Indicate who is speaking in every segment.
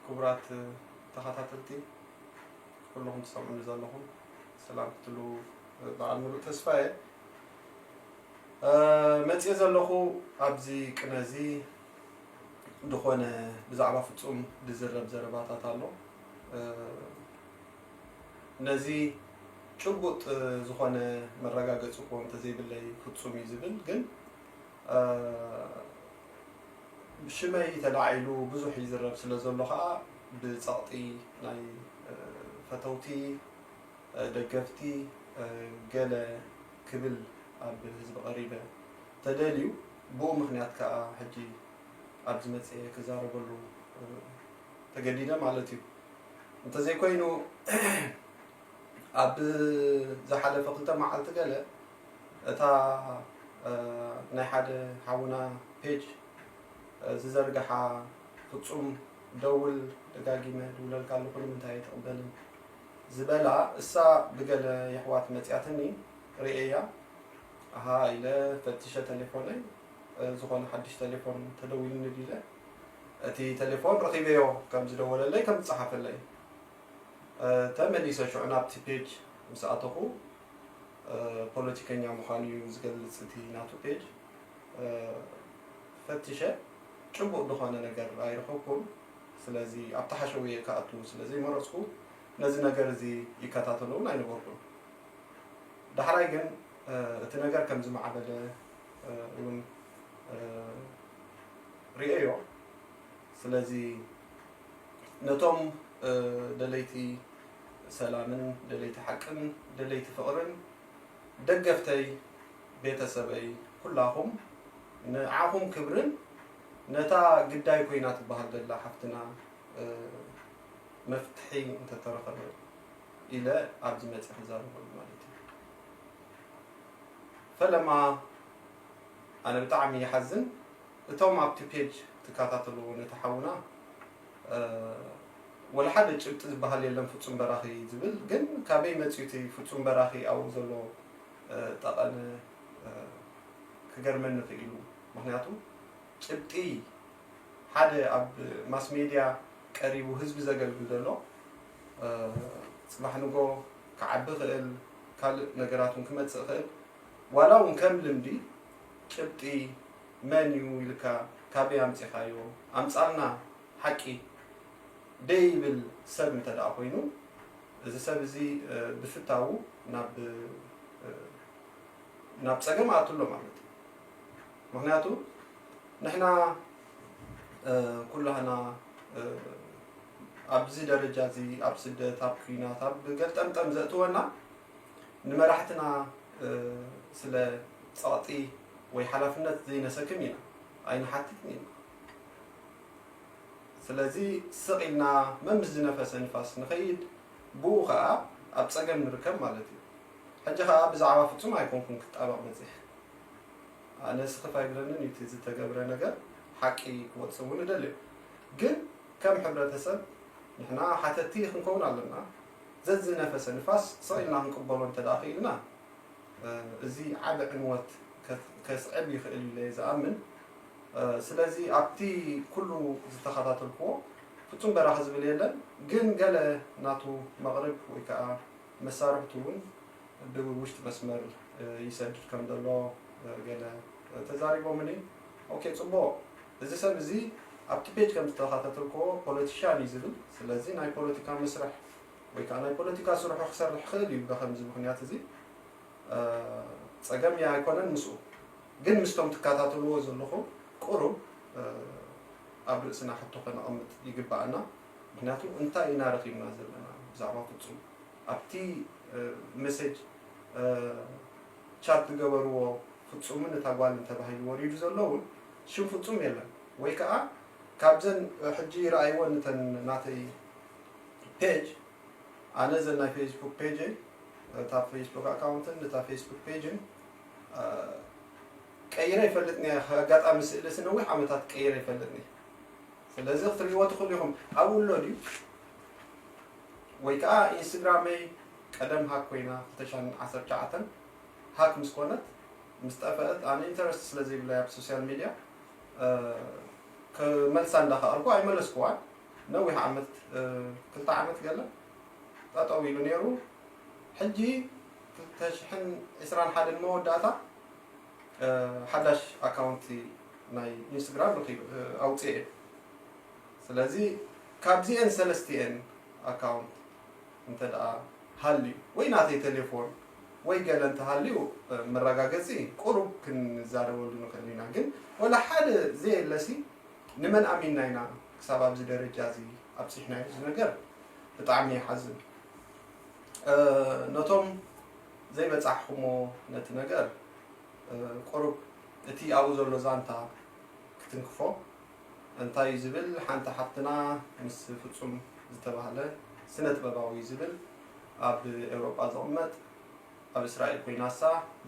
Speaker 1: ክቡራት ተኸታተልቲ ኩሉኹም ትሰምዑኒ ዘለኹም ሰላም ክትሉ በዓል ምሉእ ተስፋ እየ መፅየ ዘለኹ ኣብዚ ቅነ እዚ ዝኾነ ብዛዕባ ፍፁም ዝዝረብ ዘረባታት ኣሎ ነዚ ጭቡጥ ዝኾነ መረጋገፂ እኮ እንተዘይብለይ ፍፁም እዩ ዝብል ግን ብሽመይ ተላዒሉ ብዙሕ ይዝረብ ስለ ዘሎ ከኣ ብጸቕጢ ናይ ፈተውቲ ደገፍቲ ገለ ክብል ኣብ ህዝቢ ቀሪበ ተደልዩ ብኡ ምኽንያት ከኣ ሕጂ ኣብዚ መጺኤ ክዛረበሉ ተገዲደ ማለት እዩ። እንተዘይኮይኑ ኣብ ዝሓለፈ ክልተ መዓልቲ ገለ እታ ናይ ሓደ ሓውና ፔጅ ዝዘርግሓ ፍጹም ደውል ደጋጊመ ድውለልካ ኣለኹ ንምንታይ ኣይትቕበልን ዝበላ እሳ ብገለ የሕዋት መጽያትኒ ርእየያ ኣሃ ኢለ ፈትሸ ተሌፎነይ ዝኾነ ሓድሽ ተሌፎን ተደዊሉኒ ድዩ ኢለ እቲ ተሌፎን ረኺበዮ ከም ዝደወለለይ ከም ዝጸሓፈለይ ተመሊሰ ሽዑ ናብቲ ፔጅ ምስ ኣተኹ ፖለቲከኛ ምዃኑ እዩ ዝገልፅ እቲ ናቱ ፔጅ ፈቲሸ ጭቡጥ ዝኾነ ነገር ኣይረኸብኩን ስለዚ ኣብቲ ሓሸውየ ክኣቱ ስለ ዘይመረፅኩ ነዚ ነገር እዚ ይከታተሎ እውን ኣይነበርኩን ዳሕራይ ግን እቲ ነገር ከም ዝማዕበለ እውን ሪኤዮ ስለዚ ነቶም ደለይቲ ሰላምን ደለይቲ ሓቅን ደለይቲ ፍቅርን ደገፍተይ ቤተሰበይ ኩላኹም ንዓኹም ክብርን ነታ ግዳይ ኮይና ትበሃል ዘላ ሓፍትና መፍትሒ እንተተረኸበ ኢለ ኣብዚ መጽየ ክዛረበሉ ማለት እዩ ፈለማ ኣነ ብጣዕሚ ይሓዝን እቶም ኣብቲ ፔጅ ትካታተሉ ነቲ ሓውና ወላ ሓደ ጭብጢ ዝባሃል የለን ፍጹም በራኺ ዝብል ግን ካበይ መጽዩ እቲ ፍጹም በራኺ ኣብኡ ዘሎ ጠቐነ ክገርመኒ ክኢሉ ምኽንያቱ ጭብጢ ሓደ ኣብ ማስ ሜድያ ቀሪቡ ህዝቢ ዘገልግል ዘሎ ጽባሕ ንጎ ክዓቢ ክእል ካልእ ነገራት ውን ክመጽእ ክእል ዋላ ውን ከም ልምዲ ጭብጢ መን ዩ ኢልካ ካበይ ኣምጺኻዮ ኣምጻልና ሓቂ ደይብል ሰብ እንተ ደኣ ኮይኑ እዚ ሰብ እዚ ብፍታዉ ናብ ናብ ጸገም ኣቱ ኣሎ ማለት ዩ ምኽንያቱ ንሕና ኩላህና ኣብዚ ደረጃ እዚ ኣብ ስደት ኣብ ኩናት ኣብ ገርጠምጠም ዘእትወና ንመራሕትና ስለ ጸቕጢ ወይ ሓላፍነት ዘይነሰክም ኢና ኣይንሓትትን ኢና። ስለዚ ስቕ ኢልና መምስ ዝነፈሰ ንፋስ ንኸይድ ብኡ ከኣ ኣብ ጸገም ንርከብ ማለት እዩ። ሕጂ ከኣ ብዛዕባ ፍጹም ኣይኮንኩን ክጣበቕ በጺሐ። ኣነ ስኽፍ ኣይብለንን እዩ እቲ ዝተገብረ ነገር ሓቂ ክወጽእ እውን እደልዮ። ግን ከም ሕብረተሰብ ንሕና ሓተቲ ክንከውን ኣለና። ዘዝነፈሰ ንፋስ ስቕ ኢልና ክንቅበሎ እንተድኣ ክኢልና፣ እዚ ዓቢ ዕንወት ከስዕብ ይኽእል እዩ ኢለ'የ ዝኣምን። ስለዚ ኣብቲ ኩሉ ዝተኸታተልኩዎ፣ ፍጹም በራኺ ዝብል የለን፣ ግን ገለ ናቱ መቕርብ ወይ ከኣ መሳርሕቱ እውን ብውሽጢ መስመር ይሰድድ ከም ዘሎ ገለ ተዛሪቦምኒ። ኦኬ ጽቡቕ። እዚ ሰብ እዚ ኣብቲ ፔጅ ከም ዝተኻታተልክዎ ፖለቲሻን እዩ ዝብል ስለዚ ናይ ፖለቲካ መስርሕ ወይ ከኣ ናይ ፖለቲካ ስርሑ ክሰርሕ ይኽእል እዩ በኸምዚ ምኽንያት እዚ ጸገም ኣይኮነን ምስኡ ግን ምስቶም ትካታተልዎ ዘለኹም ቁሩብ ኣብ ርእስና ሕቶ ከነቐምጥ ይግበኣና ምኽንያቱ እንታይ ኢና ረኺብና ዘለና ብዛዕባ ፍጹም ኣብቲ መሴጅ ቻት ዝገበርዎ ፍጹምን እታ ጓልን ተባሂሉ ወሪዱ ዘሎ ውን ሽም ፍጹም የለን ወይ ከኣ ካብዘን ሕጂ ረኣይወን እተን ናተይ ፔጅ ኣነ እዘን ናይ ፈይስቡክ ፔጀይ እታ ፈይስቡክ ኣካውንትን እታ ፈይስቡክ ፔጅን ቀይረ ይፈልጥኒ ኣየ ኣጋጣሚ ስእሊ ሲ ነዊሕ ዓመታት ቀይረ ይፈልጥኒ ስለዚ ክትርእይዎ ትኽእሉ ኢኹም ኣብኡ ኣሎ ድዩ ወይ ከኣ ኢንስትግራመይ ቀደም ሃክ ኮይና 2019 ሃክ ምስ ኮነት ምስ ጠፈእት ኣነ ኢንተረስት ስለ ዘይብለይ ኣብ ሶስያል ሚድያ ክመልሳ እንዳ ከኣልኩ ኣይመለስኩዋን ነዊሕ ዓመት ክልተ ዓመት ገለ ጠጠው ኢሉ ኔሩ ሕጂ ክልተ ሽሕን ዕስራን ሓደን መወዳእታ ሓዳሽ ኣካውንቲ ናይ ኢንስትግራም ረኪበ ኣውጺኤ ስለዚ ካብዚኤን ሰለስቲኤን ኣካውንት እንተ ሃልዩ ወይ ናተይ ተሌፎን ወይ ገለ እንተሃልዩ መራጋገጺ ቁሩብ ክንዛረበሉ ንኽእል ኢና ግን ወላ ሓደ ዘየለሲ ንመን ኣሚና ኢና ክሳብ ኣብዚ ደረጃ እዚ ኣብጺሕናዮ እዚ ነገር ብጣዕሚ ይሓዝን ነቶም ዘይበጻሕኹሞ ነቲ ነገር ቁሩብ እቲ ኣብኡ ዘሎ ዛንታ ክትንክፎ እንታይ ዝብል ሓንቲ ሓፍትና ምስ ፍጹም ዝተባህለ ስነጥበባዊ ዝብል ኣብ ኤውሮጳ ዝቕመጥ ኣብ እስራኤል ኮይናሳ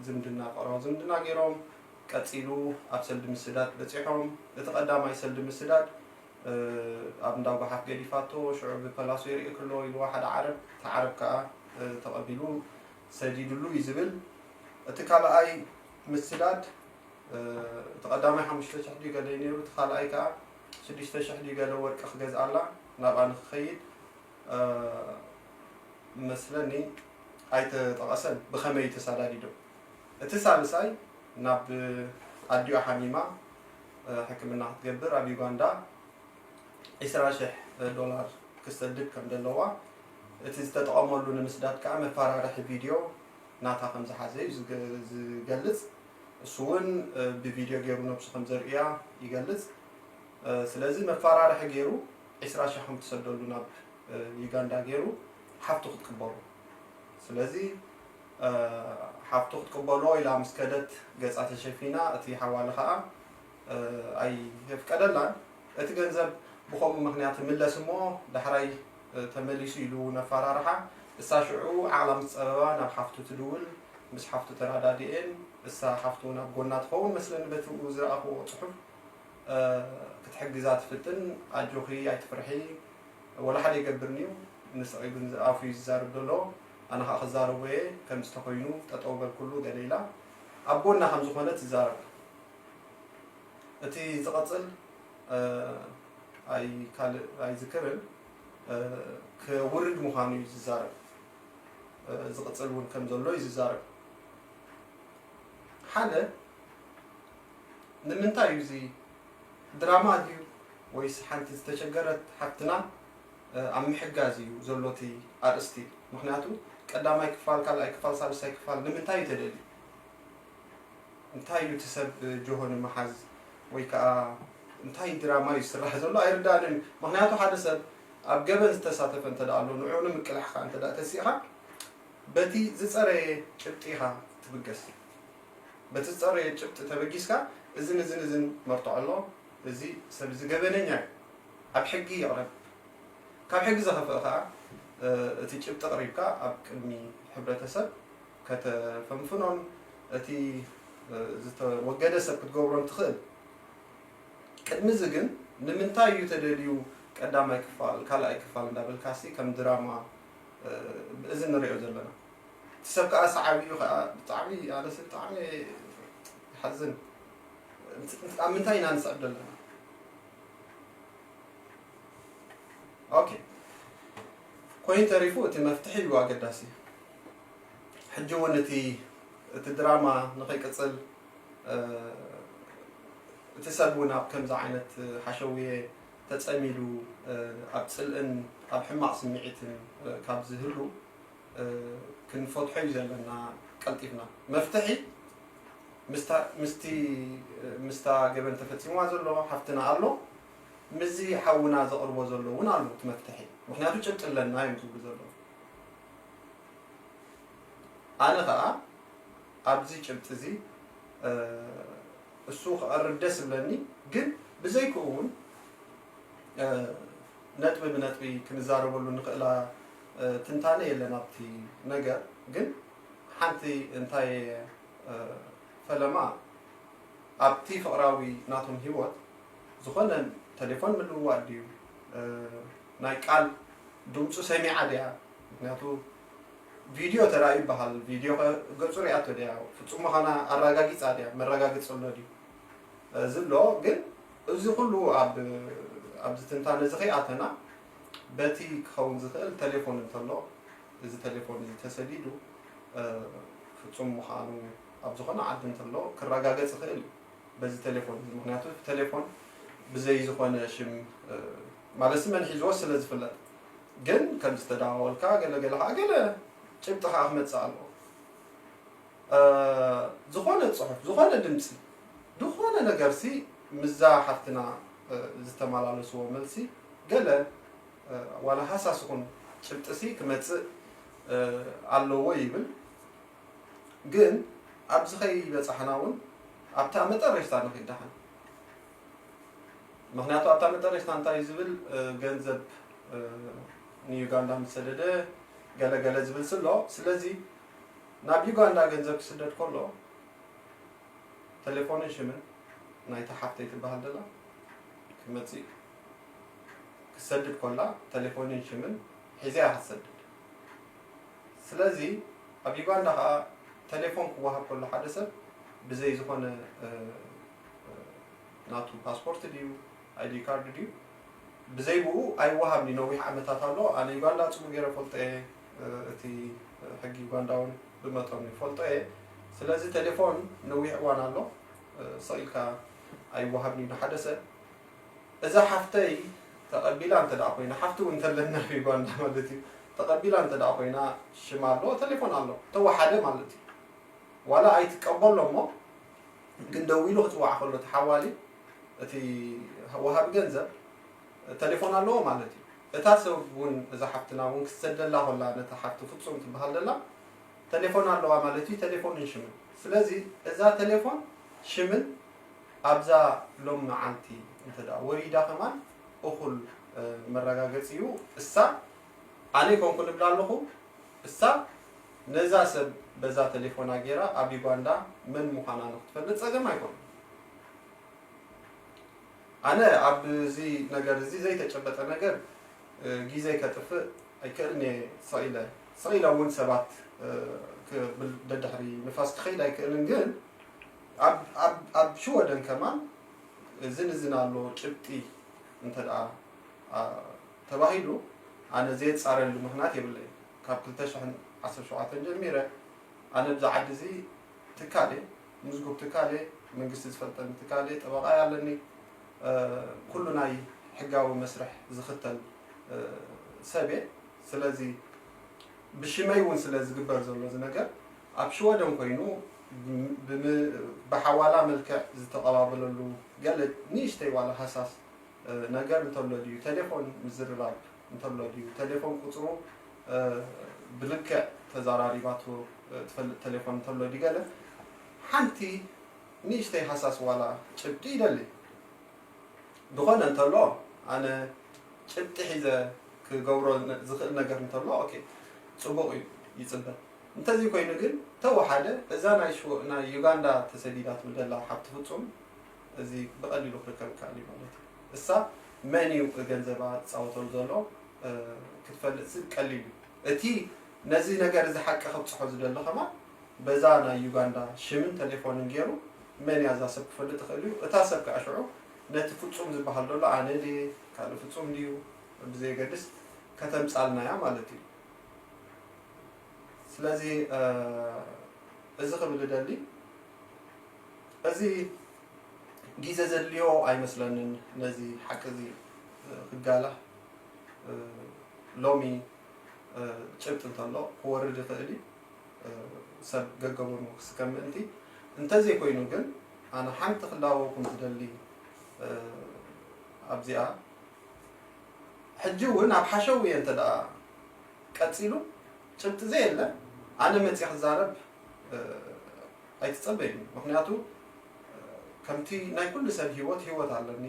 Speaker 1: ዝምድና ፍቕራዊ ዝምድና ጌሮም ቀጺሉ ኣብ ሰልዲ ምስዳድ በጺሖም እቲ ቀዳማይ ሰልዲ ምስዳድ ኣብ እንዳ ጓሓፍ ገዲፋቶ ሽዑ ብፐላሶ የርእየኪ ኣሎ ኢልዋ ሓደ ዓረብ እቲ ዓረብ ከኣ ተቐቢሉ ሰዲድሉ እዩ ዝብል እቲ ካልኣይ ምስዳድ እቲ ቀዳማይ ሓሙሽተ ሽሕ ድዩ ገለ እዩ ነይሩ፣ እቲ ካልኣይ ከኣ ሽዱሽተ ሽሕ ድዩ ገለ ወርቂ ክገዝኣላ ናብኣ ንኽኸይድ እመስለኒ ኣይተጠቐሰን፣ ብኸመይ እዩ ተሳዳዲዶ? እቲ ሳልሳይ ናብ ኣዲኡ ሓሚማ ሕክምና ክትገብር ኣብ ዩጋንዳ ዕስራ ሽሕ ዶላር ክትሰድድ ከም ዘለዋ፣ እቲ ዝተጠቐመሉ ንምስዳድ ከኣ መፈራርሒ ቪድዮ ናታ ከም ዝሓዘ እዩ ዝገልጽ። እሱ ውን ብቪድዮ ጌሩ ነብሱ ከም ዘርእያ ይገልጽ ስለዚ መፋራርሒ ጌሩ ዕስራ ሽሕ ከም ትሰደሉ ናብ ዩጋንዳ ጌሩ ሓፍቱ ክትቅበሎ ስለዚ ሓፍቱ ክትቅበሎ ኢላ ምስ ከደት ገጻ ተሸፊና እቲ ሓዋሉ ከኣ ኣይየፍቀደላን እቲ ገንዘብ ብከምኡ ምክንያት ይምለስ እሞ ዳሕራይ ተመሊሱ ኢሉ እውን ኣፋራርሓ። እሳ ሽዑ ዓቕላ ምስ ጸበባ ናብ ሓፍቱ ትድውል። ምስ ሓፍቱ ተረዳዲኤን እሳ ሓፍቱ እውን ኣብ ጎና ትኸውን መስለኒ በቲ ዝረኣኹዎ ጽሑፍ ክትሕግዛ ትፍትን ኣጆኺ ኣይትፍርሒ ወላ ሓደ ኣይገብርን እዩ ንስቒ ግን ኣፉ እዩ ዝዛረብ ዘሎ ኣነ ከኣ ክዛረቦ እየ ከምዚ ተኾይኑ ጠጠው በልኩሉ ገለ ኢላ ኣብ ጎና ከም ዝኾነት ትዛረብ እቲ ዝቐጽል ኣይካልእ ኣይዝክርን ክውርድ ምዃኑ እዩ ዝዛረብ ዝቕፅል እውን ከም ዘሎ እዩ ዝዛረብ ሓደ ንምንታይ እዩ እዚ ድራማ ድዩ ወይስ ሓንቲ ዝተቸገረት ሓፍትና ኣብ ምሕጋዝ እዩ ዘሎ እቲ ኣርእስቲ ምክንያቱ ቀዳማይ ክፋል ካልኣይ ክፋል ሳልሳይ ክፋል ንምንታይ እዩ ተደልዩ እንታይ እዩ እቲ ሰብ ጆሆ ንምሓዝ ወይ ከኣ እንታይ ድራማ እዩ ዝስራሕ ዘሎ ኣይርደኣንን እዩ ምኽንያቱ ሓደ ሰብ ኣብ ገበን ዝተሳተፈ እንተ ኣሎ ንዑኡ ንምቅላሕ ከኣ እንተ ተሲእኻ በቲ ዝጸረየ ጭብጢ ኢኻ ትብገስ በቲ ዝጸረየ ጭብጢ ተበጊስካ እዝን እዝን እዝን መርትዖ ኣሎ እዚ ሰብ እዚ ገበነኛ እዩ ኣብ ሕጊ ይቕረብ ካብ ሕጊ ዘኸፍእ ከኣ እቲ ጭብጢ ኣቕሪብካ ኣብ ቅድሚ ሕብረተሰብ ከተፈንፍኖን እቲ ዝተወገደ ሰብ ክትገብሮን ትኽእል። ቅድሚ'ዚ ግን ንምንታይ እዩ ተደልዩ ቀዳማይ ክፋል ካልኣይ ክፋል እንዳበልካ'ሲ ከም ድራማ እዚ ንሪኦ ዘለና። እቲ ሰብ ከኣ ሰዓቢ እዩ ከኣ ብጣዕሚ ኣነሲ ብጣዕሚ ይሓዝን ኣብ ምንታይ ኢና ንስዕብ ዘለና። ኦኬ ኮይኑ ተሪፉ እቲ መፍትሒ እዩ ኣገዳሲ። ሕጂ ውን እቲ እቲ ድራማ ንኸይቅጽል እቲ ሰብ ውን ኣብ ከምዚ ዓይነት ሓሸውየ ተጸሚዱ ኣብ ጽልእን ኣብ ሕማቕ ስምዒትን ካብ ዝህሉ ክንፈትሖ ዩ ዘለና ቀልጢፍና መፍትሒ ምስቲ ምስታ ገበን ተፈጺምዋ ዘሎ ሓፍትና ኣሎ ምስዚ ሓውና ዘቕርቦ ዘሎ ውን ኣሎ እቲ መፍትሒ ምኽንያቱ ጭብጢ ኣለና ዮም ዝብሉ ዘለዉ። ኣነ ከኣ ኣብዚ ጭብጢ እዚ እሱ ክቐርብ ደስ እብለኒ ግን ብዘይክኡ እውን ነጥቢ ብነጥቢ ክንዛረበሉ እንኽእላ ትንታነ የለን ኣብቲ ነገር ግን ሓንቲ እንታይ ፈለማ ኣብቲ ፍቕራዊ ናቶም ሂወት ዝኾነ ተሌፎን ምልውዋጥ ድዩ ናይ ቃል ድምጹ ሰሚዓ ድያ ምክንያቱ ቪድዮ ተራእዩ ይበሃል ቪድዮ ከ ገጹ ሪኣቶ ድያ ፍጹም ምዃና ኣራጋጊጻ ድያ መረጋግጺ ኣሎ ድዩ እዚ ኣሎ ግን እዚ ኩሉ ኣብ ኣብዚ ትንታነ እዚ ከይኣተና በቲ ክኸውን ዝኽእል ተሌፎን እንተሎ እዚ ተሌፎን እዚ ተሰዲዱ ፍጹም ምዃኑ ኣብ ዝኾነ ዓዲ እንተሎ ክረጋገጽ ይኽእል እዩ በዚ ተሌፎን እዚ ምክንያቱ ተሌፎን ብዘይ ዝኾነ ሽም ማለትሲ መን ሒዝዎ ስለ ዝፍለጥ ግን ከም ዝተደዋወልካ ገለ ገለ ከኣ ገለ ጭብጢ ከኣ ክመጽእ ኣለዎ ዝኾነ ጽሑፍ ዝኾነ ድምጺ ዝኾነ ነገርሲ ምስዛ ሓፍትና ዝተመላለስዎ መልሲ ገለ ዋላ ሃሳስ ይኹን ጭብጢሲ ክመጽእ ኣለዎ ይብል ግን ኣብዚ ከይበጻሕና ውን ኣብታ መጠረሽታ ንኺድ ደሓን። ምክንያቱ ኣብታ መጠረሽታ እንታይ ዝብል ገንዘብ ንዩጋንዳ ምሰደደ ገለ ገለ ዝብል ስሎ ስለዚ ናብ ዩጋንዳ ገንዘብ ክስደድ ከሎ ቴሌፎንን ሽምን ናይቲ ሓፍተይ ትበሃል ደላ ክመፅእ ክትሰድድ ኮላ ቴሌፎንን ሽምን ሒዘያ ክትሰድድ ስለዚ ኣብ ዩጋንዳ ከዓ ቴሌፎን ክወሃብ ከሎ ሓደ ሰብ ብዘይ ዝኾነ ናቱ ፓስፖርት ድዩ ኣይዲ ካርድ ድዩ ብዘይ ብኡ ኣይወሃብን እዩ ነዊሕ ዓመታት ኣሎ ኣነ ዩጋንዳ ጽቡቅ ጌረ ፈልጦ እየ እቲ ሕጊ ዩጋንዳ ውን ብመጠኑ ይፈልጦ እየ ስለዚ ቴሌፎን ነዊሕ እዋን ኣሎ ስቅ ኢልካ ኣይወሃብን እዩ ንሓደ ሰብ እዛ ሓፍተይ ተቀቢላ እንተ ኮይና ሓፍቲ ውን እንተለና ኣብ ዩጋንዳ ማለት እዩ ተቀቢላ እንተ ኮይና ሽማ ኣሎ ቴሌፎን ኣሎ ተወሓደ ማለት እዩ ዋላ ኣይትቀበሎ እሞ ግን ደዊሉ ክጽውዓ ከሎ እቲ ሓዋሊ እቲ ወሃቢ ገንዘብ ተሌፎን ኣለዎ ማለት እዩ እታ ሰብ ውን እዛ ሓፍትና ውን ክትሰደላ ኮላ ነታ ሓፍቲ ፍጹም ትብሃል ዘላ ተሌፎን ኣለዋ ማለት እዩ ተሌፎንን ሽምን ስለዚ እዛ ተሌፎን ሽምን ኣብዛ ሎም መዓልቲ እንተ ወሪዳ ከማን እኹል መረጋገጺ እዩ እሳ ኣነ ኣይኮንኩን እብላ ኣለኹ እሳ ነዛ ሰብ በዛ ተሌፎና ጌራ ኣብ ዩጋንዳ መን ምዃና ንኽትፈልጥ ጸገም ኣይኮነን ኣነ ኣብዚ ነገር እዚ ዘይተጨበጠ ነገር ጊዘይ ከጥፍእ ኣይክእልን እየ ስቕ ኢለ ስቕ ኢለ እውን ሰባት ክብል ደድሕሪ ንፋስ ክኸይድ ኣይክእልን ግን ኣብ ሽወደን ከማን እዝን እዝን ኣሎ ጭብጢ እንተ ተባሂሉ ኣነ ዘየጻርየሉ ምኽንያት የብለይን ካብ ክልተ ሽሕን ዓሰርተ ሸውዓተን ጀሚረ ኣነ ኣብዚ ዓዲ እዚ ትካል እየ ምዝጉብ ትካል እየ መንግስቲ ዝፈልጠኒ ትካል እየ ጠበቓይ ኣለኒ ኩሉ ናይ ሕጋዊ መስርሕ ዝኽተል ሰብ እየ ስለዚ ብሽመይ እውን ስለ ዝግበር ዘሎ እዚ ነገር ኣብ ሽወደን ኮይኑ ብሓዋላ መልክዕ ዝተቐባበለሉ ገለ ንእሽተይ ዋላ ሃሳስ ነገር እንተሎ ድዩ ተሌፎን ምዝርራብ እንተሎ ድዩ ተሌፎን ቁፅሩ ብልክዕ ተዛራሪባቶ ትፈልጥ ተሌፎን እንተሎ ድዩ ገለ ሓንቲ ንእሽተይ ሃሳስ ዋላ ጭብጢ ይደሊ ዝኾነ እንተሎ ኣነ ጭብጢ ሒዘ ክገብሮ ዝኽእል ነገር እንተሎ ኦኬ ፅቡቕ እዩ ይፅበ እንተዚ ኮይኑ ግን ተወሓደ እዛ ናይ ዩጋንዳ ተሰዲዳትሉ ዘላ ሓብቲ ፍፁም እዚ ብቀሊሉ ክርከብ ይከኣል እዩ ማለት እዩ። እሳ መን እዩ ገንዘባ ዝጻወተሉ ዘሎ ክትፈልጥሲ ቀሊል እዩ። እቲ ነዚ ነገር እዚ ሓቂ ከብጽሖ ዝደሊ ከማን በዛ ናይ ዩጋንዳ ሽምን ተሌፎንን ጌሩ መን እያ እዛ ሰብ ክፈልጥ ይኽእል እዩ። እታ ሰብ ከኣ ሽዑ ነቲ ፍጹም ዝበሃል ዘሎ ኣነ ድየ ካልእ ፍጹም ድዩ ብዘየገድስ ከተምጻልና እያ ማለት እዩ። ስለዚ እዚ ክብል እደሊ እዚ ጊዘ ዘድልዮ ኣይመስለንን ነዚ ሓቂ እዚ ክጋላህ ሎሚ ጭብጢ እንተሎ ክወርድ ይኽእል እዩ ሰብ ገገጎኑ ክስከም ምእንቲ እንተዘይኮይኑ ግን ኣነ ሓንቲ ክላበወኩም ዝደሊ ኣብዚኣ ሕጂ እውን ኣብ ሓሸውየ እንተ ቀፂሉ ጭብጢ ዘየለ ኣነ መፅየ ክዛረብ ኣይትፀበዩኒ ምክንያቱ ከምቲ ናይ ኩሉ ሰብ ሂወት ሂወት ኣለኒ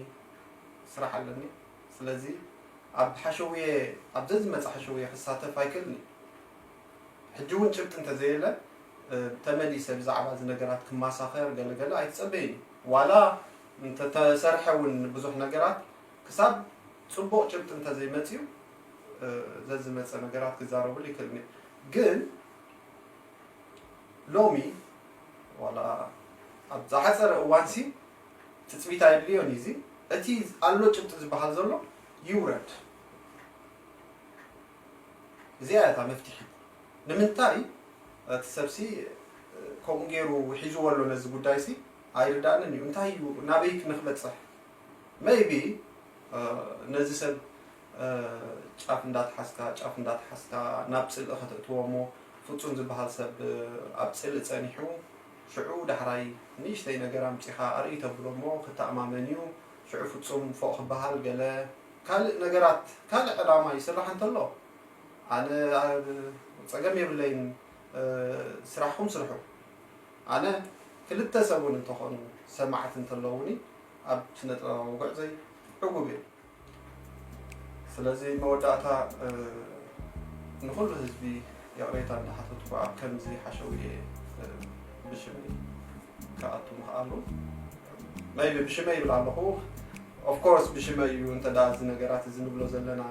Speaker 1: ስራሕ ኣለኒ ስለዚ ኣብ ሓሸውየ ኣብ ዘዝመፀ ሓሸውየ ክሳተፍ ኣይክእልን እየ ሕጂ እውን ጭብጢ እንተዘየለ ተመሊሰ ብዛዕባ እዚ ነገራት ክማሳኸር ገለ ገለ ኣይትፀበዩኒ ዋላ እንተተሰርሐ እውን ብዙሕ ነገራት ክሳብ ፅቡቕ ጭብጢ እንተዘይመፅዩ ዘዝመጸ ነገራት ክዛረብሉ ይክእል እየ ግን ሎሚ ዋላ ኣብ ዝሓጸረ እዋንሲ ትጽቢት ኣየድልዮን እዩ እዚ እቲ ኣሎ ጭብጢ ዝበሃል ዘሎ ይውረድ እዚኣ እያ እታ መፍትሒ ንምንታይ እቲ ሰብሲ ከምኡ ገይሩ ሒዝዎ ኣሎ ነዚ ጉዳይሲ ኣይርዳእንን እዩ እንታይ እዩ ናበይ ክንክበጽሕ መይቢ ነዚ ሰብ ጫፍ እንዳትሓዝካ ጫፍ እንዳትሓዝካ ናብ ጽልኢ ከተእትዎ እሞ ፍጹም ዝበሃል ሰብ ኣብ ጽልኢ ጸኒሑ ሽዑ ዳሕራይ ንእሽተይ ነገር ኣምጺኻ ኣርእይ ተብሎ እሞ ክተኣማመን እዩ ሽዑ ፍጹም ፎእ ክበሃል ገለ ካልእ ነገራት ካልእ ዕላማ ይስራሕ እንተሎ ኣነ ጸገም የብለይን ስራሕኹም ስርሑ ኣነ ክልተ ሰብ ውን እንተኾኑ ሰማዕቲ እንተለዉኒ ኣብ ስነጥበባዊ ጉዕዘይ ዕጉብ እየ። ስለዚ መወዳእታ ንኹሉ ህዝቢ ይቕሬታ እንዳሓተትኩ ኣብ ከምዚ ሓሸውየ ብሽመይ ክኣቱ ምኽኣሉ ቢ ብሽመይ ይብል ኣለኹ ኦፍኮርስ ብሽመይ እዩ እንተ እዚ ነገራት እዚ ንብሎ ዘለና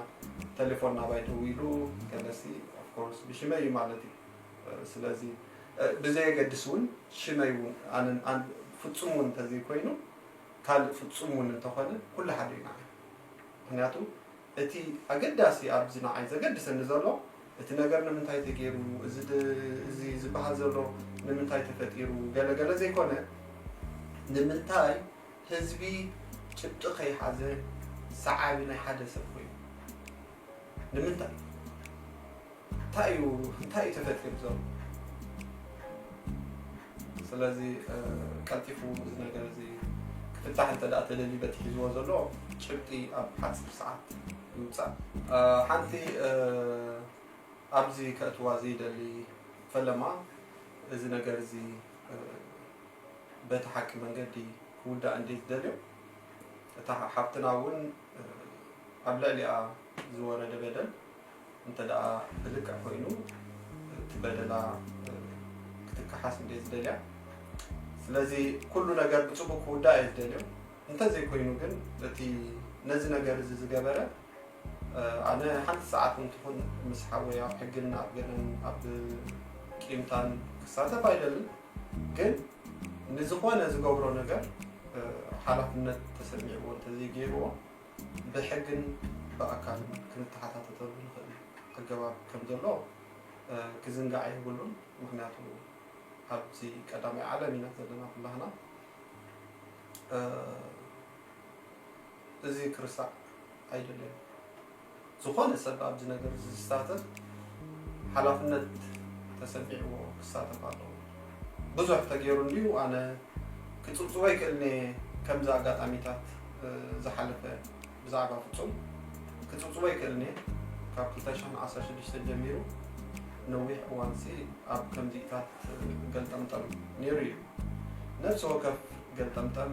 Speaker 1: ቴሌፎን ናባይ ደዊሉ ገለሲ ኦፍኮርስ ብሽመይ እዩ ማለት እዩ ስለዚ ብዘየገድስ እውን ሽመይ እውን ፍፁም እውን እንተዘይኮይኑ ካልእ ፍጹም ውን እንተኾነ ኩሉ ሓደ ኢና ንብል። ምኽንያቱ እቲ ኣገዳሲ ኣብዚ ንዓይ ዘገድሰኒ ዘሎ እቲ ነገር ንምንታይ ተገይሩ እዚ እዚ ዝበሃል ዘሎ ንምንታይ ተፈጢሩ ገለ ገለ ዘይኮነ ንምንታይ ህዝቢ ጭብጢ ከይሓዘ ሰዓቢ ናይ ሓደ ሰብ ኮይኑ ንምንታይ እንታይ እዩ እንታይ እዩ ተፈጢሩ ዘሎ ስለዚ ቀልጢፉ እዚ ነገር እዚ ክፍታሕ እንተ ተደልዩ በቲ ሒዝዎ ዘሎ ጭብጢ ኣብ ሓፂር ሰዓት ይውፃእ ሓንቲ ኣብዚ ከእትዋ ዘይደሊ ፈለማ እዚ ነገር እዚ በቲ ሓቂ መንገዲ ክውዳእ እንዴት ደልዮ እታ ሓፍትና እውን እቲ ኣብ ልዕሊኣ ዝወረደ በደል እንተድኣ ብልክዕ ኮይኑ እቲ በደላ ክትከሓስ እንድየ ዝደልያ ስለዚ ኩሉ ነገር ብፅቡቅ ክውዳእ እየ ዝደልዮ እንተዘይኮይኑ ግን እቲ ነዚ ነገር እዚ ዝገበረ ኣነ ሓንቲ ሰዓት እውን ትኹን ምስ ሓወይ ኣብ ሕግን ኣብ ገለን ኣብ ቂምታን ክሳተፍ ኣይደልን ግን ንዝኾነ ዝገብሮ ነገር ሓላፍነት ተሰሚዕዎ እንተዘይገይርዎ ብሕግን ብኣካልን ክንተሓታተተሉ ንኽእል ኣገባብ ከም ዘሎ ክዝንጋዕ የብሉን። ምክንያቱ ኣብዚ ቀዳማይ ዓለም ኢና ዘለና ኩላህና እዚ ክርሳዕ ኣይደልን። ዝኾነ ሰብ ኣብዚ ነገር እዚ ዝሳተፍ ሓላፍነት ተሰሚዕዎ ክሳተፍ ኣለዎ። ብዙሕ ተገይሩ እንድዩ ኣነ ክጽብጽቦ ይክእልን እየ ከምዚ ኣጋጣሚታት ዝሓለፈ ብዛዕባ ፍጹም ክጽብጽቦ ይክእልን እየ ካብ 2016 ጀሚሩ ነዊሕ እዋን ሲ ኣብ ከምዚታት ገልጠምጠም ነይሩ እዩ ነፍሲ ወከፍ ገልጠምጠም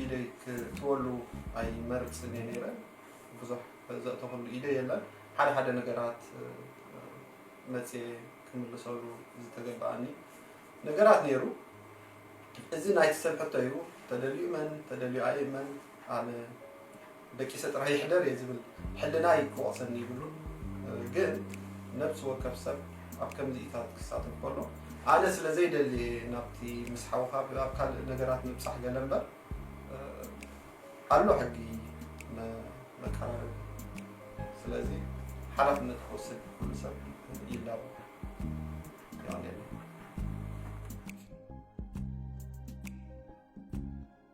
Speaker 1: ኢደይ ክእትወሉ ኣይመርጽን እየ ነይረ። ብዙሕ ዘእተኹሉ ኢደይ የለን። ሓደ ሓደ ነገራት መጽየ ክምልሰሉ ዝተገበኣኒ ነገራት ነይሩ። እዚ ናይቲ ሰብ ሕቶ እዩ። ተደልዩ እመን ተደልዩ ኣይእመን ኣነ ደቂሰ ጥራይ ይሕደር እየ ዝብል ሕልናይ ክወቕሰኒ ይብሉን ግን ነብሲ ወከፍ ሰብ ኣብ ከምዚኢታት ክሳተፍ ከሎ ኣነ ስለ ዘይደሊ እየ ናብቲ ምስ ሓውካ ኣብ ካልእ ነገራት ምብጻሕ ገለ እምበር ኣሎ ሕጊ መቀራረቢ ስለዚ ሓላፍነት ክወስድ ኩሉ ሰብ ይላቦ